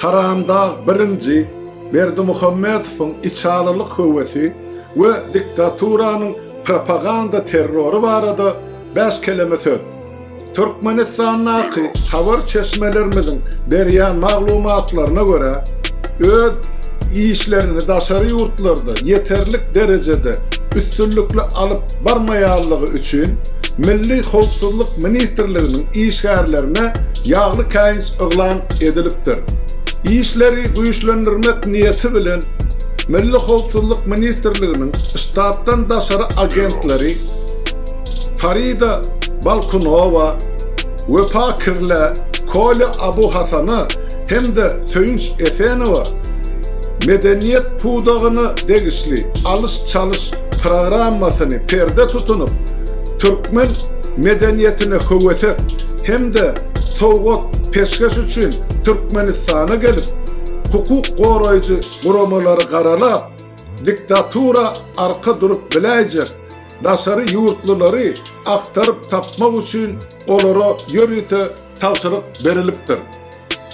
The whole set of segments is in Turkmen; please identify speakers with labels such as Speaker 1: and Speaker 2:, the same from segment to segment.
Speaker 1: Haramdag birinji Berdimuhamedowyň içalylyk höwesi we diktaturanyň propaganda terrory barada bäş keleme söz. Türkmenistandaky habar çeşmelerimiziň berýän maglumatlaryna görä, öz işlerini daşary ýurtlarda ýeterlik derejede üstünlikli alyp barmaýanlygy üçin Milli howpsuzlyk ministrliginiň işgärlerine ýagly käýinç yglan edilipdir. Işleri güýçlendirmek niýeti bilen, Milli howpsuzlyk ministrliginiň ştatdan daşary agentleri Farida Balkunowa, Wepa Kirlä, Kolýa Abu Hasana hem-de Söýünç Esenowa medeniýet pudagyna degişli alyş-çalyş programmasyny perde tutunyp, türkmen medeniýetine höwesek hem-de sowgat, peşgeş üçin Türkmenistana gelip, hukuk goraýjy guramalary garalap, diktatura arka durup biläýjek daşary ýurtlulary agtaryp tapmak üçin olara ýörite tabşyryk berilipdir.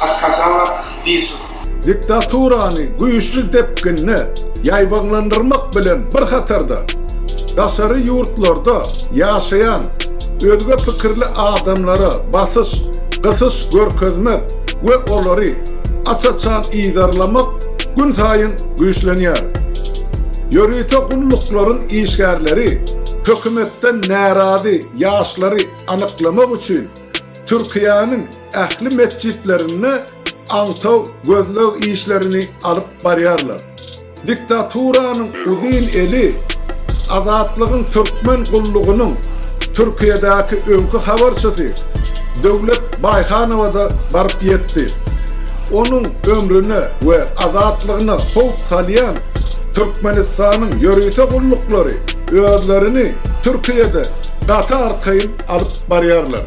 Speaker 2: Arkadaglar bir sur. Diktaturany
Speaker 1: güýçli depginde ýaýbaňlandyrmak bilen bir hatarda, daşary ýurtlarda ýaşaýan özge pikirli adamlara basyş, gysyş görkezmek we olary aç-açan yzarlamak günsaýyn güýçlenýär. Ýörite gulluklaryň işgärleri hökümetden närazy ýaşlary anyklamak üçin Türkiýäniň ähli metjitlerinde aňtaw gözleg işlerini alyp barýarlar. Diktaturanyň uzyn eli Azatlygyň Türkmen gullugynyň Türkiýedäki öňki habarçysy Döwlet Baýhanowa-da baryp ýetdi. Onuň ömrüne we azatlygyna howp salýan Türkmenistanyň ýörite gulluklary özlerini Türkiýede gaty arkaýyn alyp barýarlar.